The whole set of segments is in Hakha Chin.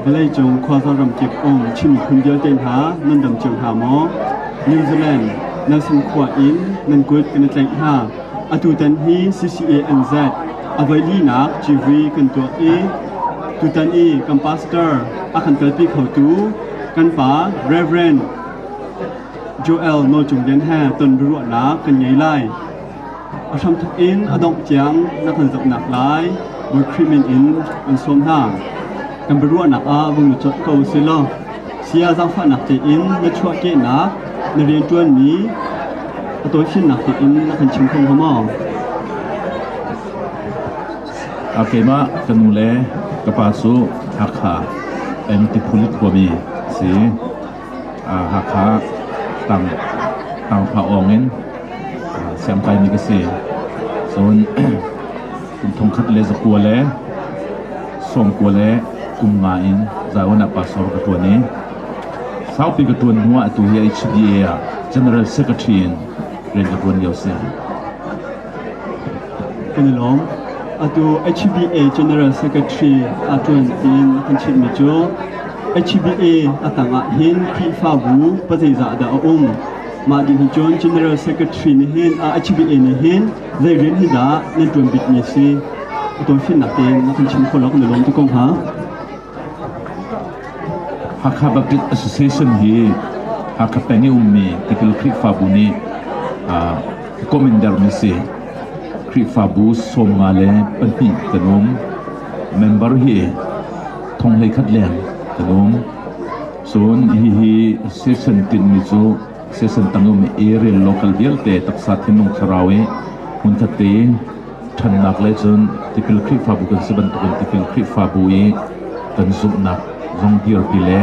Vawleicung khuazar ramkip um chimphun vialte hna nan dam cio hna maw? New Zealand, Nelson khua in nan kut kan i tlaih hna. Atutan hi CCANZ a voilinak GV kan tuak i tutan i kan pastor a kan kalpi khotu kan pa Reverend Joel No Cung Lian he ton biaruahnak kan ngei lai. A hramthok in a dongh tiang na kan zohnak lai Bawi Khrih min in kan sawm hna. Kan biaruahnak ah vung na cawt ko si law, sia zaangfahnak tein na chuahkehnak, na rianṭuanmi, a tawifinnak tein na kan chim kho hnga maw? Keimah ka nu le ka pa cu Hakha, N. Tiphulit khuami si. Hakha tangphahawng in siangpaimi ka si. Cun kum thongkhat le zakua le sawmkua le kum nga in Zion ah pastor ka ṭuan i saupi ka ṭuan hnuah atu hi HDA ah General Secretary in rian ka ṭuan lio a si. kan i lawm. Atu HBA General Secretary aa ṭuan tiin kan chimhmi cu HBA a tangah hin Khrihfabu pazeizah dah a um? Mah ding hi cun General Secretary nih hin a HBA nih hin zei rian hi dah nan ṭuan bikmi a si? A tawifinnak tein na kan chim kho lo kan i lawm tuk ko hnga. Hakha Baptist Association hi Hakha peng i ummi Tikil Khrihfabu nih commander mi si Khrihfabu sawmnga le pahnih kan um. Member hi thonglei khat leng kan um. Cun hihi session tinhmi cu session tangum area local vialte taksa thinlung thlarau i hmunkhat te ṭhannak le cun tipil Khrihfabu kan si bantukin tipil Khrihfabu i kan zumhnak zong dirpi le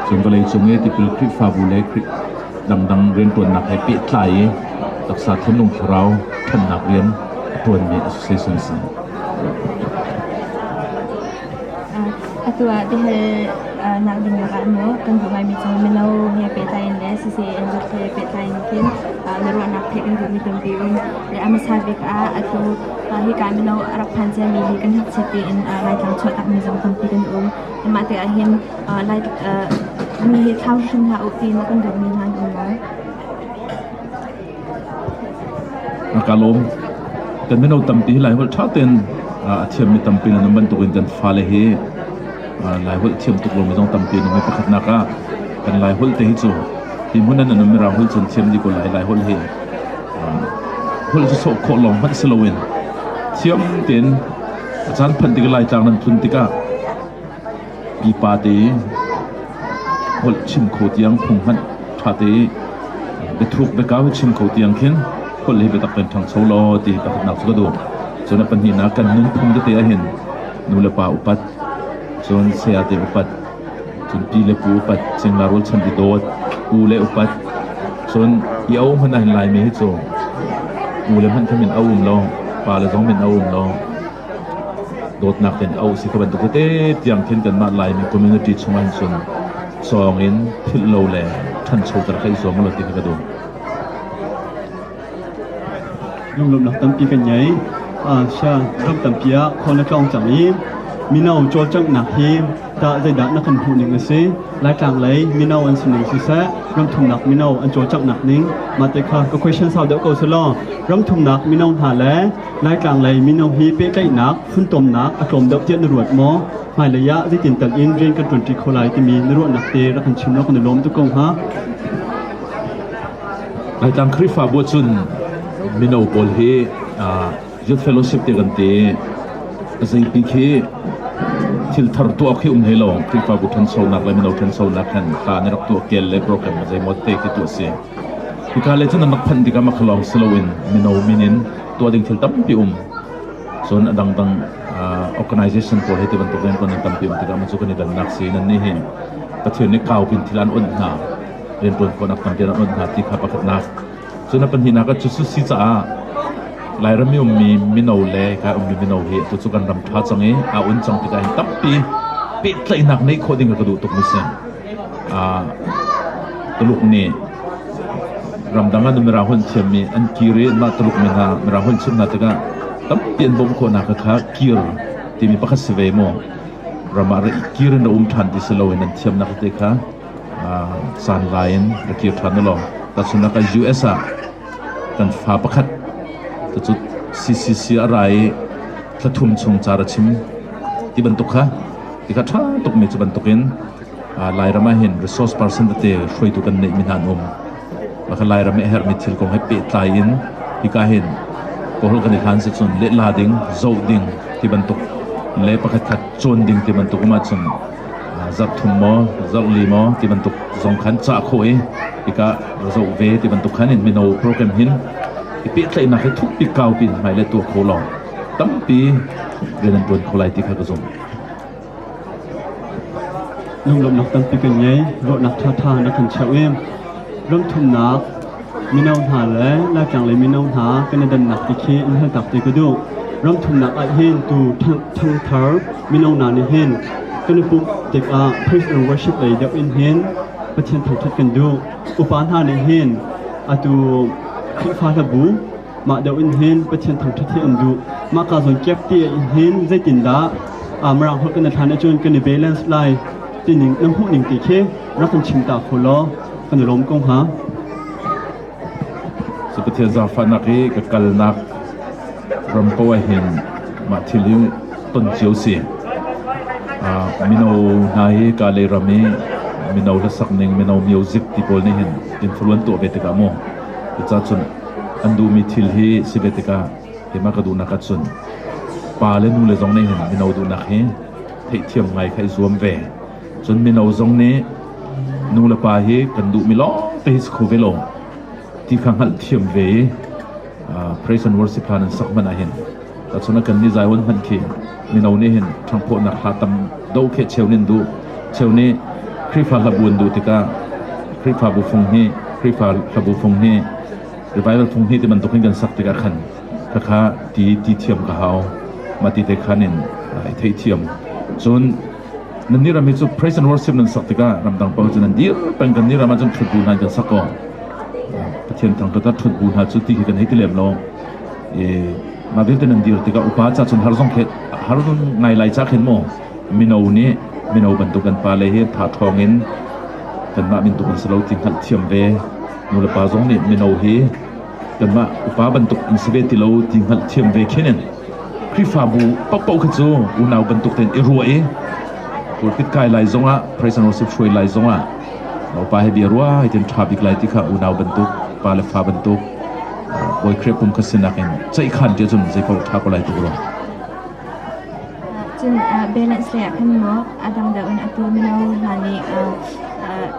cun vawleicung i tipil Khrihfabu le dangdang rianṭuannak he pehtlai i taksa thinlung thlarau ṭhannak rian a ṭuanmi a si si. Atu ah tihal ding lakah kan duh ngaimi cu mino he pehtlai in le CCAN ruak he pehtlai in hin na ruahnak pek an duhmi tampi um le a hmasa bik ah atu hika mino a rak phan ciami hi kan hngakchiat tiin Laitlang chuah takmi zong tampi kan um. Mah te ah hin mi he thlau hrim hlah u tiin kan duhmi hna an um lo. ka lawm. Kan mino tampi hi Laiholh ṭha tein a thiammi tampi nan um bantukin kan fale hi Laiholh thiam tuk lomi zong tampi an um i pakhatnak ah kan Laiholh te hi cu hi hmun ah nan ummi Rauholh cu an thiam dih ko lai. Laiholh hi holh cu sawh khawh lawng hmanh si loin thiam tein a caan phanh tikah Laitlang nan phun tikah Pipa te, holh chim kho tiang phung hmanh ṭha te biathuk biakau hi chim kho tiang khin holh hi biatak kan ṭhangcho law ti taktaknak cu ka duh. Cun a pahnihnak kan nunphung tete ahhin nu le pa upat, cun saya te upat, cun pi le pu upat, cingla rualchan i dawt, u le upat. Cun i a um hmanh ahhin Laimi hi cu u le hmanh kha min a um lo, pa le zong min a um lo. dawtnak tein auh si ka bantuk tete tiang khin kanmah Laimi community chungah hin cun sawng in philh lo le ṭhanchoter kha i zuam u law ti kha ka duh. Lunglawmnak tampi kan ngei. Sia ram tampi ah khon a tlawng cang i mino cawlcanghnak hi dah zeidah na kan hmuh ning a si laitlang lei mino an si ning siseh ramthumnak mino an cawlcanghnak ning mah te kha ka question sau deuh ko selaw ramthumnak mino hna le Laitlang lei mino hi pehtlaihnak, funtomnak a tlawm deuh tiah na ruat maw? Hmailei ah zeitin tal in rian kan ṭuanṭi kho lai timi na ruahnak te rak kan chim law kan i lawm tuk ko hnga. Laitlang Khrihfabu ahcun mino pawl hi youth fellowship te kan ti azeipi khi thilthar tuah khi um hlei lo Khrihfabu ṭhansonak le mino ṭhansonak khan hla na rak tuah kel le program zeimaw te khi tu a si. Hika le cun an rak phanh tikah mah lawng si loin mino min in tuah ding thil tampi um. Cun a dangdang organization pawl hi ti bantuk in kan tampi um tikah cu kan i dannak si nan nih hi Pathian nih kaupin thil an unh hna riantuan khawhnak tampi an unh hna ti kha pakhatnak cun a pahnihnak cu cu si caah Lairam i ummi mino le ka ummi mino hi tu cu kan ram tha cang i a un cang tikah hin tampi pehtlaihnak nei khawh ding ka duh tuk mi si. Tuluk nih ramdang ah mirangholh thiammi an kir i mah Tuluk mi hna mirangholh chim hna tikah tampi an bawmh khawhnak kha kir timi pakhat si ve maw? Ram ah kir in a um ṭhan ti si loin an thiamnak te kha sanlai in ra kir ṭhan u law tahchunhnak ah US ah kan fa pakhat cu CCC a ra i thla thum chung car a chim ti bantuk kha ti kha ṭha tukmi cu bantukin lairam ah hin resource person tete hruaitu kan neih mi hna an um maka lairam a herhmi thil kong he pehtlai in hika hin kawl kan i hlan si cun lehla ding zoh ding ti bantuk le pakhat khat cawn ding ti bantuk um ahcun zarh thum maw zarh li maw ti bantuk zong khan cah khawh i hika va zoh ve ti bantuk khan in mino program hin i pehtlaihnak hi thuk bik kau pi hmai le tuah kho law tampi ve nan buan kho lai ti kha ka zum lunglawmhnak tampi kan ngei ruahnak ṭha ṭha na kan cheuh i ramthumnak Mino hna le Laitlanglei mino hna kan i dannak ti khi in haltak te ka duh. Ramthumnak ahhin tu thangthar mino hna nih hin kan i pumh tikah praise and worship lei deuh in hin Pathian thangṭhat kan duh. Upa hna nih hin atu Khrihfa hlabu Mah deuh in hin Pathian thangṭhat hi an duh. Mah kaa zawn kiak ti in hin zeitindah Mirang holh kan i thlan ahcun kan i balance lai tining na hmuh ning ti khi rak kan chim ta kho law kan i lawm ko hnga. So Pathian zaangfahnak i ka kalnak ram ko ah hin mah thil hi ton cio si. Uh, mino hna hi ka lei ram i mino hlasak ning mino music ti pawl nih hin influence tuah ve tikah mu. Cucahcun An duhmi thil hi si ve tikah keimah ka duhnak ah cun pa le nu le zong nih hin mino duhnak hi theihthiam ngai kha i zuam ve. Cun mino zong nih nu le pa hi kan duhmi lawng te hi si kho ve lo ti kha hngalhthiam ve i praise and worship hla nan sak hmanh ah hin Tahcun a kannih zaihawn hmanh khi mino nih hin ṭhangphawhnak hla tam do khi cheu nin duh, cheu nih Khrihfa hlabu an duh tikah Khrihfabu fung hi Khrihfa hlabu fung hi revival fung hi ti bantuk hin kan sak tikah khan khakha ti ti thiam ka hau. Mah ti te khan in i theithiam. Cun nannih ram hi cu praise and worship nan sak tikah ramdang pa cun an dir peng kannih ram ahcun thut bu hna in kan sak kaw Pathian thang tat a thut bu hna cu ti hi kan hei ti lem lo. mah vialte nan dir tikah upa ca cun har zong khe har nun ngai lai ca khin maw mino nih mino bantuk an pale hi tha ṭhawng in kanmah mintuk an si lo ti hngalh thiam ve nulepa zong nih mino hi kanmah upa bantuk an si ve ti lo ti hngalh thiam ve khenin Khrihfabu pakpau kha cu unau bantuk tein i rua i pulpit kai lai zongah personal sip hruai lai zongah upa he bia rua hai tin ṭha bik lai ti kha unau bantuk pa le fa bantuk Bawi Khrih kum khat sinak in ceikhan ti cun zei paoh ṭha ko lai tuk rua. Cun balance lei ah kan maw adam deuh in atu mino hna nih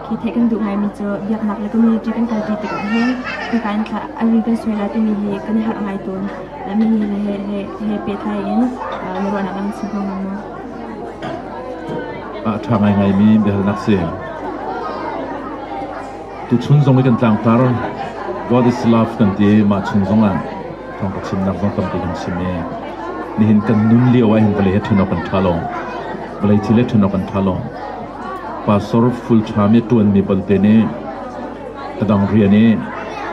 khi theih kan duh ngaimi cu biaknak le community kan kalpi tikah hin kan ari kan suala timi hi kan i harh ngai tawn mi he he he he pehtlai in na ruahnak lang si ko men ma a ṭha ngai ngaimi biahalnak si Tuchun zong i kan tlangtar God is love kan ti i mah chung zong ah thawng ka chimnak zong tampi kan chim i nihin kan nun lio ah hin vawlei he ṭhunawk kan ṭha lo vawlei thil he ṭhunawk kan ṭha lo pastor fulcham i ṭuanmi palte nih ka dang rian i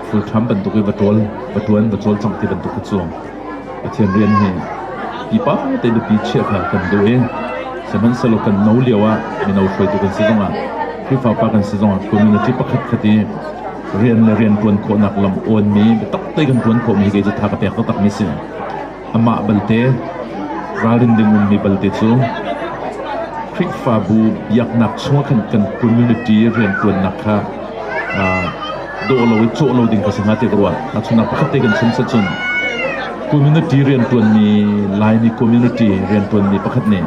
fulcham bantuk i va ṭual va ṭuan va cawlcangh ti bantuk hi cu Pathian rian hi pipa te nupi chiah kha kan duh i sihmanhsehlaw kan no lio ah mino hruaitu kan si zongah Khrihfa pa kan si zongah community pakhatkhat i rian le rian ṭuan khawhnak lam awnmi biatak te kan ṭuan khawhmi hi kei cu tha ka pek taktakmi si. Amah balte ralrin ding ummi balte cu Khrihfabu biaknak chungah khan kan community rian ṭuannak kha dawh lo i cawh lo ding ka si hnga tiah ka ruah. Tahchunhnak pakhat te kan chim set cun community rianṭuanmi Laimi community rianṭuanmi pakhat nih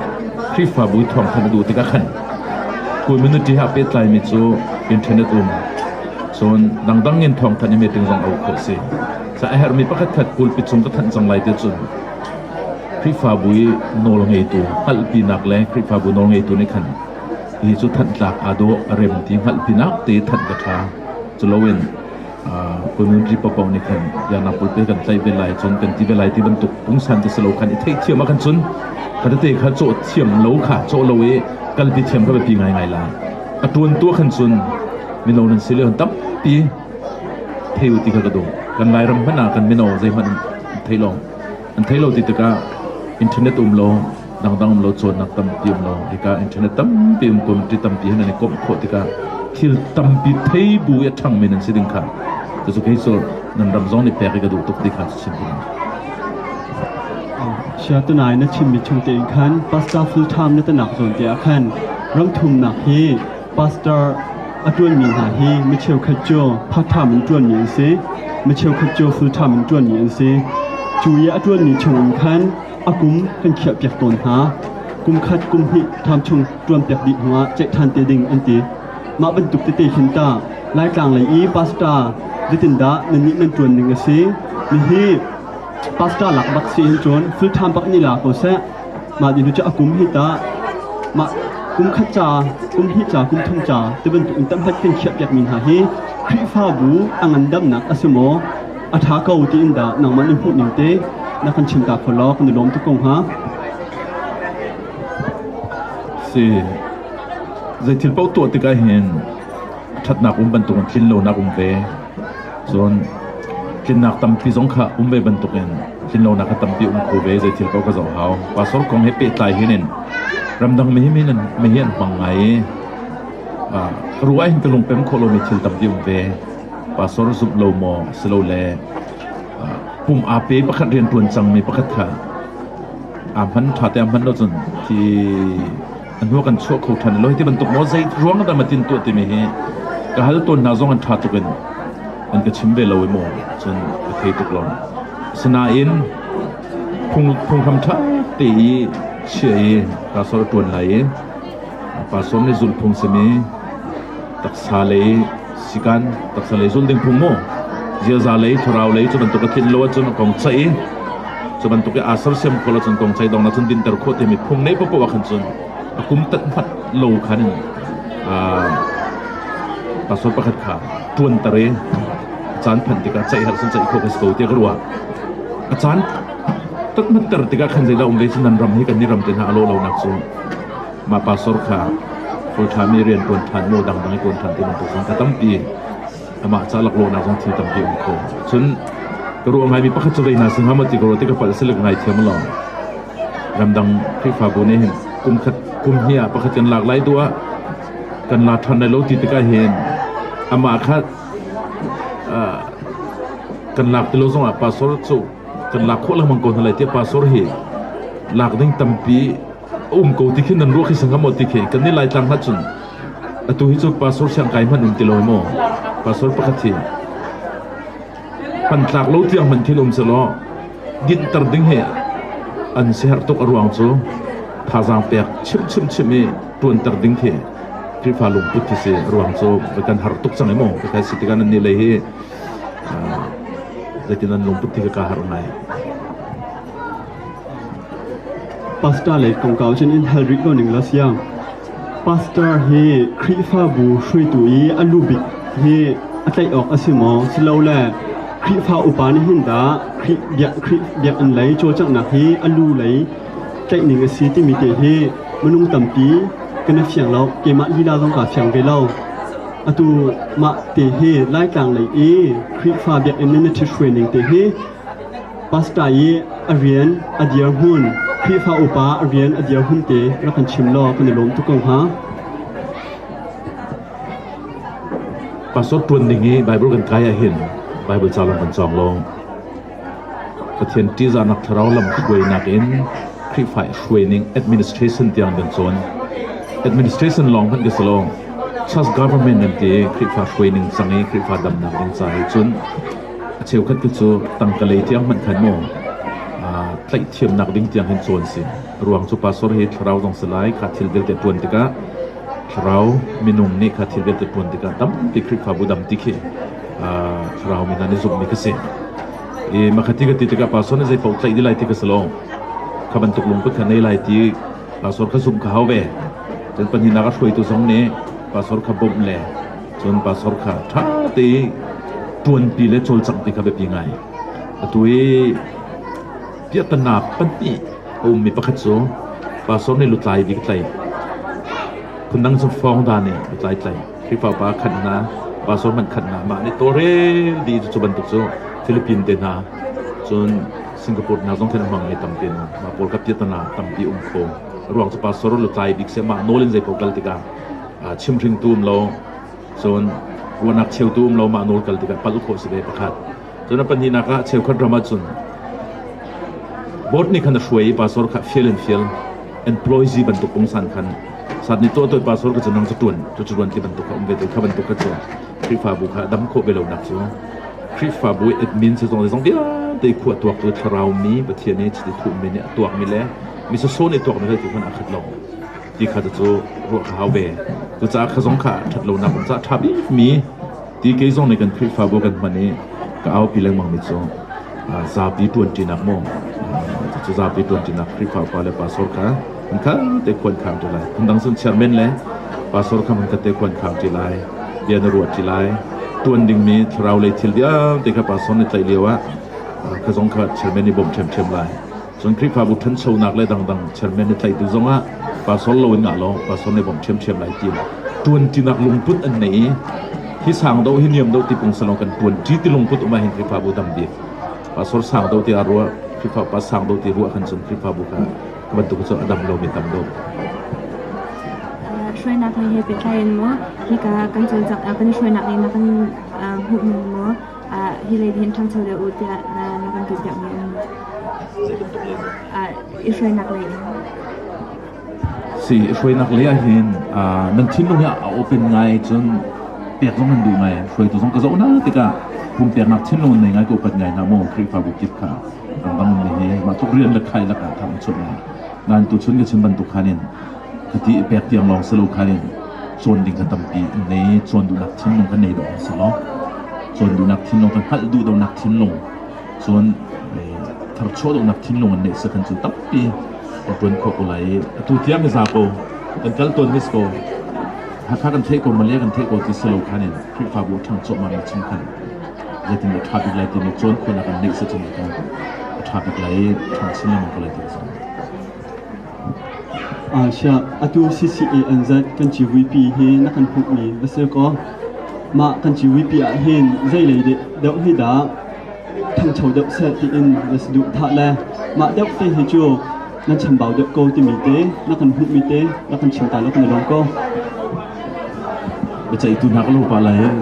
Khrihfabu i thawngtham a duh tikah khan community he aa pehtlaimi cu internet um cun dangdang in thawngthanh i meeting zong a uk khawh si. Sa a herhmi pakhatkhat pulpit chung ka thanh cang lai ti cun Khrihfabu i nawlngeitu hngalhpinak le Khrihfabu nawlngeitu nih khan Hi cu thanhtlak aa dawh a rem ti hngalh pinak te thanh ka ṭha. Culoin community paohpaoh nih khan Yanappul pei kan tlaih ve lai, cun kan ti ve lai ti bantuk pungsan te si lo khan i theihthiam ah khan cun kha tete kha cawh thiam lo kha cawh lo i kalpi thiam kha biapi ngaingai la. A ṭuan tu ah khan cun mino nan si le tampi thei u ti kha ka duh. Kan Lairam hmanh ah kan mino zeihmanh an thei lo. An thei lo ti tikah internet um law Dangdang um lo cawnnak tampi um lo. Hika internet tampi um ko ti tampi han an i komh khawh tikah thil tampi thei bu i a ṭhangmi nan si ding kha cucu kei cu nan ram zong nih pek i ka duh tuk ti kha si ding siatunai na chimmi chung te in khan pastor full time na tanak zawn te ah khan rangthumnak hi pastor a ṭuanmi hna hi mi cheukhat cu part time in ṭuanmi an si mi cheukhat cu full time in ṭuanmi an si cu i a ṭuanmi chung in khan A kum kan khiahpiak tawn hna. Kum khat kum hnih ṭham chung ṭuanpiak dih hnuah ceih ṭhan te ding an ti. Mah bantuk tete khin tah Laitlang lei i pastor zetindah nannih nan ṭuan ning a si? Nihi pastor lak bak si hin cun thil ṭham bak ni la ko seh. Mah dinu cu a kum hi tah mah kum khat ca, kum hnih ca, kum thum ca ti bantuk in tamhlat kan khiahpiak mi hna hi Khrihfabu a ngandamnak a si maw? a ṭha ko tiin dah nangmah na hmuhning te na kan chim ta kho law kan i lawm tuk ko hnga. Si. Zei thil paoh tuah tik ahhin ṭhatnak um bantukin tlinlonak um ve. Cun tlinnak tampi zong kha um ve bantukin tlinlonak a tampi um kho ve zei thil paoh ka zoh hau. Pastor kong he pehtlai hin in ramdang me hi an me hi an hmang ngai i ruah hin ka lungpem khawh lomi thil tampi um ve. Pastor zumh lo maw silole pum aa pe pakhat rianṭuan cangmi pakhat kha aa hman ṭhate a hman lo cun hi a hnu kan chuah kho ṭhan lo. Hi ti bantuk maw zei ruang dah matin tuah timi hi ka hal tawn hna zong an ṭha tuk in an ka chim ve lo i maw cun ka thei tuk lo. Asinain phunghram ṭha te i chiah i pastor a ṭuan lai i pastor nih zulhphung simi taksa lei Sikan taksa lei zun ding phung mu. Ziaza lei thlarau lei cu bantuk a thin lo ahcun a kong chaih i cu bantuk i aa sersiam ko lo cun kong chaih dong na cun dinter khawh timi phung nei popoh ah khan cun a kum tat hmat lo khan in pastor pakhat kha ṭuanter i caan phanh tikah ceih har cun ceih khawh ka si ko tiah ka ruah a caan tat hmatter tikah khan zeidah um ve cu nan ram hi kan ram te hna a lawh lonak cu mah pastor kha ṭhami rian ṭuan ṭhan maw dangdang i ṭuan ṭhan ti bantuk zong ka tampi amah ca laklawhnak zong thil tampi a um kho cun ka ruah ngaimi pakhat cu reina sing hama ti ka ruat ti ka palh silek ngai thiam lo ramdang khrihfabu nih hin kum khat kum hi ah pakhat kan lak lai duah kan la ṭhan lai lo ti tikah hin amah kha kan lak ti lo zongah pastor cu kan lak khawh lengmang ko hna lai tiah pastor hi lak ding tampi a um ko ti khin an ruah khi sang maw ti khi kan ni laitlang ha cun atu hi cu pastor siang kai hman um ti lo maw pastor pakhat hi pan tlak lo tiang man thil um se law din tar ding he an seher tuk a ruang cu thazang pek chim chim chim i tuan tar ding thi krifa lung put thi si ruang cu kan har tuk chang emaw kai si tikan ni lei hi zeitin an lung put thi ka har ngai Pastor lei kongkau cun in hal rih ko ning law siang. Pastor hi Khrihfabu hruaitu i a lubik hi a tlaih awk a si maw? Silole Khrihfa upa nih hin dah Khrih biak Khrih biakinn lei cawlcanghnak hi a lu lei tlaih ning a si timi te hi minung tampi kan i fiang lo. Keimah lila zong kaa fiang ve lo. Atu mah te hi Laitlang lei i Khrihfa biakinn in na ṭhithruai ning te hi Pastor i a rian a dirhmun Khrihfa upa a rian a dirhmun te rak kan chim law kan i lawm tuk ko hnga. Pastor ṭuan ding i Baibal kan kai ahhin Baibal ca lawng kan cawng lo. Pathian ṭihzahnak thlarau lamhruainak in Khrihfa hruai ning administration tiang kan cawn. Administration lawng hmanh ka si lo, church government kan ti i Khrihfa hruai ning cang i Khrihfa damnak ding ca he cun A cheukhat tu cu tangkalei tiang hmanh khan maw tlaihhthiamnak ding tiang hin cawn si. Ruang cu pastor hi thlarau zong si lai kha thil vialte ṭuan tikah thlarau minung nih kha thil vialte ṭuan tikah tampi Khrihfabu dang ti khi thlarau mi hna nih zumhmi khi si. I makati ka ti tikah pastor nih zei paoh tlaih dih lai ti ka si lo. Kha bantuk lungput kha nei lai ti pastor kha zumh kha hau ve cun pahnihnak a hruaitu zong nih pastor kha bawmh le cun pastor kha ṭha te ṭuanpi le cawlcangh ti kha biapi ngai atu i piahtanaak pahnih a ummi pakhat cu pastor nih lutlai bik tlai phundang cu fawng da nih lutlai tlai Khrihfa pa khat hna, pastor man khat hna, mah nih tawlrel dih cu bantuk cu Philippine te hna cun Singapore hna zong thlen hmang mi tampi an um. Mah pawl ka tiat hna tampi um kho. Ruang cu pastor lu tlai bik se mah nawl in zei pawl kal tikah chimhring tu um lo cun ruahnak cheu tu um lo mah nawl kal tikah pal khawh si ve pakhat. Cun a pahnihnak ah cheukhat ram ahcun board nih khan a hruai i pastor kha fial in fial employee bantuk kong san khan sat ni tuah tuah pastor ka cu nang cu tuan cu cu tuan ti bantuk kha um ve te kha bantuk kha cu Khrihfabu kha dam khawh ve lonak cu Khrihfabu admin se zong zong vialte khua tuak cu thlarau mi Pathian nih chiti thuhmi nih a tuakmi le mi soso nih tuakmi hal ti khan aa khat lo ti kha cu ruah kha hau ve cucaah kha zong kha ṭhat lonak ca ṭha bikmi Ti kei zong nih kan Khrihfabu kan hman i ka aupi lengmangmi cu zapi ṭuanṭinak maw cucu zapi ṭuanṭinak Khrihfapa le pastor kha an kha te khuankhar ṭi lai phundang cun chairman le pastor kha man kate khuankhar ṭi lai bia na ruah ṭi lai ṭuan dingmi thlarau lei thil vialte kha pastor nih tlaih lio ah ka zong kha chairman i bawm ṭhiamṭhiam lai Cun Khrihfabu ṭhanchonak le dangdang chairman i tlaihtu zongah pastor loin ngah law pastor nei bawmh ṭhiamṭhiam lai ti in ṭuanṭinak lungput an nei i hi sang do hi niam do ti pung selaw kan ṭuanṭi ti lungput um ahhin Khrihfabu dang bik pastor sang do tiah ruah Khrihfa pa sang do ti ruah khan cun Khrihfabu kha bantuk cu a dam lomi tam dawh hruainak he he pehtlai in maw hika kan cawlcangh kan hruainak nih na kan hmuh ning maw hi lei hin ṭhangcho deuh u tiah na kan ṭipiakmi i hruainak lei in. Si, i hruainak lei ah hin nan thinlung hi a open ngai cun pek zong an duh ngai hruaitu zong ka zoh hna tikah pumpiaknak thinlung an nei ngai ko pat ngai hna maw Khrihfabu kip kha ramdang hi mah tuk rian le khai lakah thang chum ngai nan tu chun ka chim bantuk khan in Hiti i pek tiang lawng si lo kha in cawn ding kha tampi an nei. Cawn duhnak thinlung kan nei dawh a si lo. Cawn duhnak thinlung kan hngalh duh dawhnak thinlung cun tharchuah duhnak thinlung an neih si kan cu tampi ka tuan kho ko lai i atu tiang i za ko kan kal ton nis ko hakha kan theih ko malia kan theih ko ti si lo khan in khrihfabu thang chuah ma chung khan zetin a tha bik lai ti ni chuan khona kan neih si chin kan a tha bik lai thang chin lamang ko lai ti Aa siah, atu CCA an zenh kan civuipi hi na kan hmuhmi va si kaw mah kan civuipi ah hin zeilei deuh hi dah ṭhangcho deuh seh tiin va si duh tha le mah deuh te hi cu nan chambau deuh ko timi te na kan hmuhmi te na kan chim ta lo kan i lawm ko. Biaceihtu hna ka lungpa lai in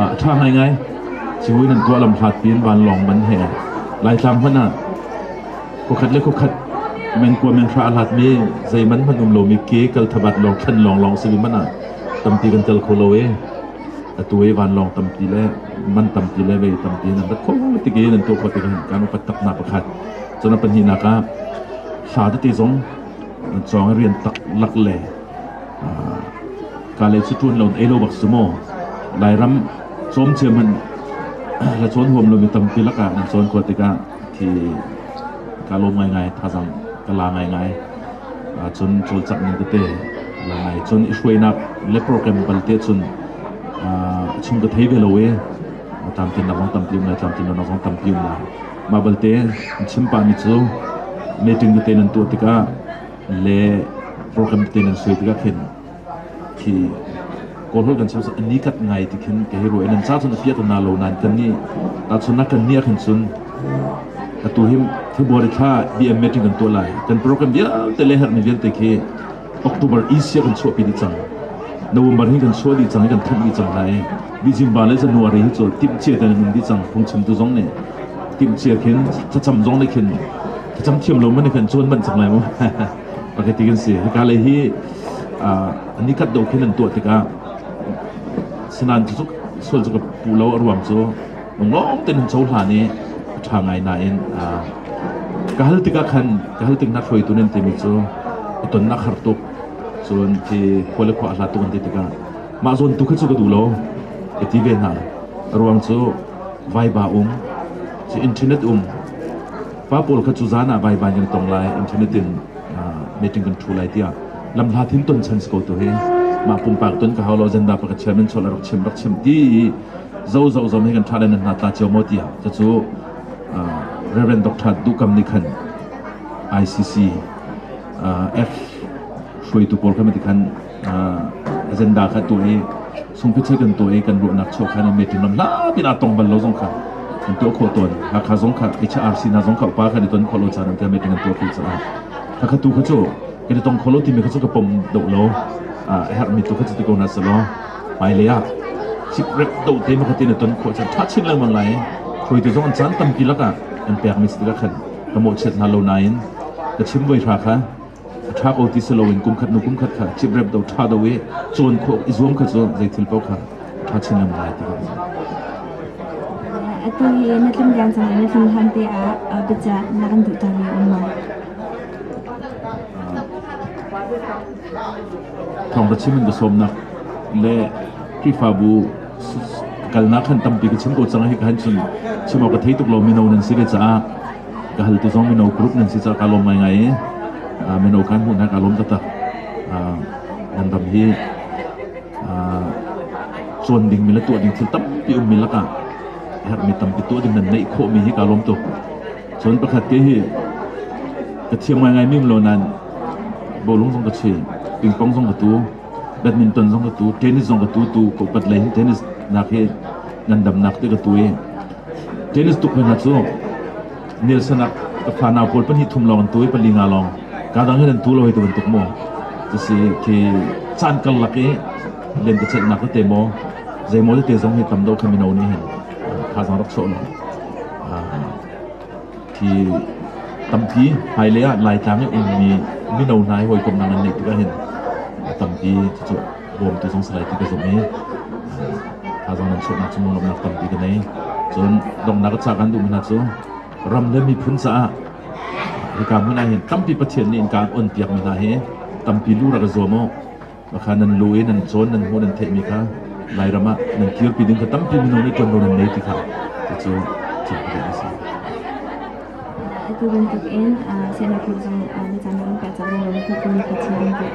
a ṭha ngai ngai civui nan tuah lam hlatpi in vanlawng man he laitlang hmanh ah Khuakhat le khuakhat mengkua menhra a hlatmi zeiman hmanh um lomi ke kal thabat lawng thlen lawnglawng si hmanh ah tampi kan tel kho lo i atu i vanlawng tampi le man tampi le vei tampi in an rat kho tik i nan tuah kho tik kan upat taknak pakhat cun a pahnihnak ah hla tete zong nan cawng i rian tak lak le ka le cu ṭuan lo ei lo bak su maw lairam cawm cia hmanh la cawn huam lomi tampi lakah nan cawn kho tikah Hi ka lawm ngaingai, thazang ka la ngaingai. Cun cawlcangh ning tete la ngai. Cun i hruainak le program balte cun a chung ka thei ve lo i tlamtlin na vong tampi um le tlamtlin na vong tampi um la. Mah balte chim pahmi cu meeting tete nan tuah tikah le program tete nan soi tikah khin Khi kawlhawl kan sersak i nikhat ngai ti khin ka hei ruah i nan ca cun a piah na lo nain kan nih tahchunnak kan nih khan cun atu hi February thla BM meeting kan tuah lai kan program vialte le herhmi vialte khi October Asia kan chuahpi dih cang November hin kan chuah dih cang i kan thanh dih cang hna i Bijimba le January hi cu timhcia tein an um dih cang phungchimtu zong nih timhcia khin thlacam zong nih khin thlacam thiam lo man khin cu an manh cang lai mu Pakhat kan si. Hika lei hi ni khat dawh khin an tuah tikah sinan cu sual cu ka puh lo a ruam cu lunglawm tein hun cohlan i a ṭha ngai nain ka hal tikah khan ka hal tik na hruaitu nan timi cu a tonnak har tuk cun ti khua le khua a hla tuk an ti tikah mah zawn tu kha cu ka duh lo ka ti ve hna a ruang cu vaiba um ci internet um Pa pawl kha cu zan ah vaivan kan tong lai, internet in meeting kan ṭhu lai tiah lamhla thin ton chan si ko tu hi mah pumpak ton ka hau lo agenda pa ka chairman chol rak chim rak chim ti zo zo zom hi kan ṭha len hna ta cio mo tiah cucu Reverend Dr. Dukam nih khan ICC F hruaitu pawl kha matikhan agenda kha tu hi Sungpi thil kan tuah i kan ruahnak chuah khan in metin lam hlap in aa tong bal lo zong kha kan tuah khawh tawn. Hakha zong kha Kicha RC hna zong kha upa kan i ton khawh lo caan tiang metin kan tuah khawh caah. Hakha tu kha cu kan i tong khawh lo timi kha cu ka pom deuh lo. A herhmi tu kha cu ti ko na salo. Hmailei ah chip rep do te mu khatin i ton khawh chan tha chin lengmang lai. Khoitu zong an caan tampi lakah an pekmi si tikah khan ka mawh chiat hna lo nain ka chim voi hra kha a ṭha ko ti si loin kumkhat hnu kumkhat kha ciprep do ṭha do i cawn khawh i zuam kha cu zei thil paoh kha ṭha chin ngam lai ti kha atu hi na tlim tlang cang na tlim hlan te ah biacah na kan duh cang mi um ma thawngṭha chim in ka sawmnak le khrihfabu kalnak kan tampi ka chim ko cang hi ka han chim chim awk ka thei tuk lo mi no nan si ve caah ka hal te zong mino group nan si cah ka lawm ngaingai i mino kan hmuh hna ka lawm taktak nan ram hi cuan dingmi le tuah ding thil tampi ummi lakah herhmi tampi tuah ding nan neih khawhmi hi ka lawm tuk cun pakhat te hi ka thiam ngaingai mim lo nain bolung zong ka chi pingpong zong ka tu Badminton zong ka tu, tennis zong ka tu, tu ko pat lei hin tennis nak hi ngandamnak te ka tu i tennis tuk hna cu Nielsen ah ka fa nau pawl pahnih thum lawng an tu i pali nga lawng kaa dang hin an tu lo hei ti bantuk maw cusi khi caan karlak i len ka celhnak tete maw zeimaw tete zong hi tam deuh kha mino nih hin thazang rak sawh lo. hi tampi hmailei ah Laitlang i a ummi mino hna hi hawikomhnak an neih tik ahhin tampi cucu bawmtu zung salai ka zumh i thazaang lamsawhnak cu lawmhnak tampi ka nei cun donghnak a cah kan duhmi hna cu ram le miphun caah hika hmun ahhin tampi Pathian nih innka an onpiakmi hna hi tampi lu rak i zuam u Khakha nan law i nan cawn nan hmuh nan theihmi kha Lairam ah nan kirpi ding kha tampi minung nih ṭuanvo nan ngei ti kha cucu thinkpalik a si. Atu bantuk in sinak hi zong na caan kan pek cang renglo tuk in ka chim an tuah.